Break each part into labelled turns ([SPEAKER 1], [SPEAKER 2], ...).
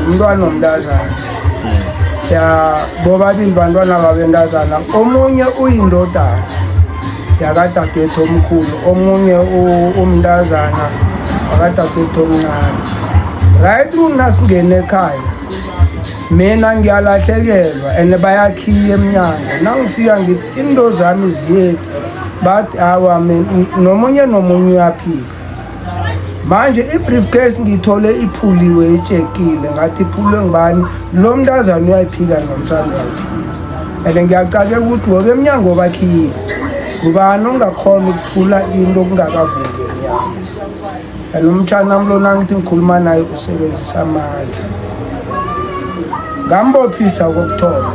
[SPEAKER 1] umntwana omntazana ya bobabili bantwana babentazana omunye uyindodana yakadadwethu omkhulu omunye umntazana wakadadwethu omncane right mna singene ekhaya mina ngiyalahlekelwa and bayakhiya emnyango nangifika ngithi into zami ziyephi bathi awa nomunye nomunye uyaphika manje i-briefcase ngiyithole iphuliwe itshekile ngathi iphulwe ngubani lo mntazane uyayiphika nomsana uyayiphika and ngiyacake ukuthi ngoba emnyango bakhile ngubani ongakhona ukuphula into okungakavuli emnyango and umtshana wami lona ngithi ngikhuluma naye usebenzisa amandla ngambophisa kokuthoma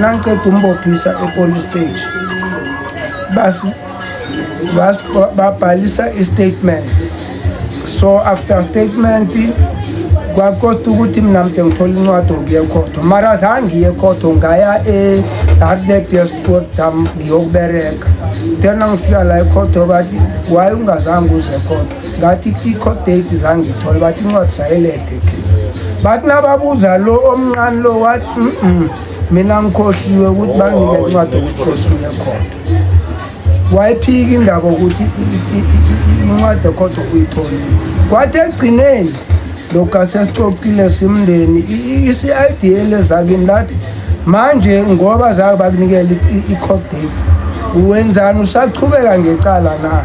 [SPEAKER 1] nangiqeda umbophisa epolice stage basi babhalisa i-statement so after statement kwakosta ukuthi mina mde ngithole incwadi okuye khotho mara zange iye khotho ngaya e-hardlebesport dam ngiyokubereka tena ngifika la ekhotho bathi waye ungazange uze khotho ngathi i-court date zange ithole bathi incwadi sayelethe ke bathi nababuza lo omncane lo wathi mina ngikhohliwe ukuthi bangile incwadi okuthi khosuye khotho wayiphika indaba ukuthi incwadi ekhotho uyithole kwathi ekugcineni lokhu asesixoxile simndeni i-cid elezakini lathi manje ngoba zake bakunikela i-court date wenzani usachubeka ngecala na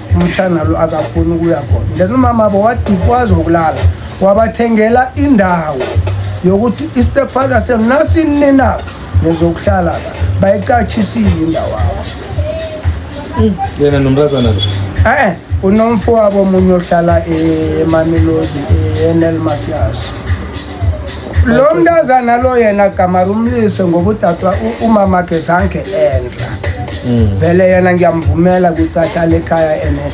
[SPEAKER 1] umtshana lo akafuni ukuya khona then umama bo wadifuwazi wokulala wabathengela indawo yokuthi istepfather senu nasinini na nizokuhlala la bayicatshisiwe indawo awo yena
[SPEAKER 2] nomntazana lo e-e unomfo
[SPEAKER 1] wabo omunye ohlala emamelodi e-nl mafias lo mntazana lo yena gama lumlise ngobudadwa umamakhe zange endla mm. vele yena ngiyamvumela ukuthi ahlale ekhaya ene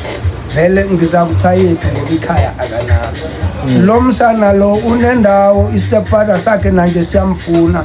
[SPEAKER 1] vele ngiza kuthayephi ngoba ikhaya akanalo mm. lo msana lo unendawo istepfather sakhe nanje siyamfuna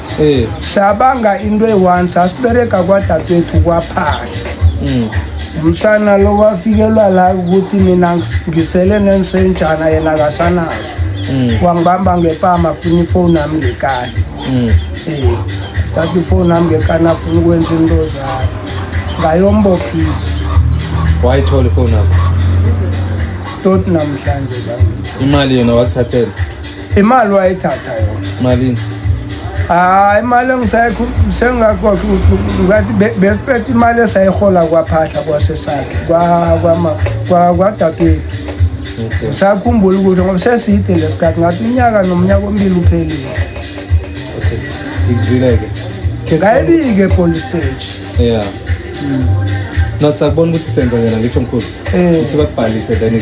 [SPEAKER 1] Eh. sabanga into eyi-one sasibereka kwadadewethu kwaphahla mm. umsana lo wafikelwa la ukuthi mina ngisele nensenjana yena kasanazo mm. wangibamba ngepama afuna ifoni yami ngekani um mm. eh, tata ifoni yami ngekani afuna ukwenza into zakhe ngayombophisa
[SPEAKER 2] wayithola ifoni yakho
[SPEAKER 1] toti namhlanje zangitho imali yona wakuthathela
[SPEAKER 2] imali
[SPEAKER 1] wayithatha yona malini
[SPEAKER 2] hayi
[SPEAKER 1] imali engisayikho sengakho ngathi besiphethe imali esayihola kwaphahla kwasesakhe kwadadewethu usakhumbula ukuthi ngoba seside lesikhathi ngathi unyaka nomnyaka ombili uphelile okay
[SPEAKER 2] izwile-ke ngayibike
[SPEAKER 1] epolice stage yeah
[SPEAKER 2] mm. no sakubona ukuthi senza
[SPEAKER 1] yena
[SPEAKER 2] ngitsho mkhulu eh. ukuthi bakubhalise then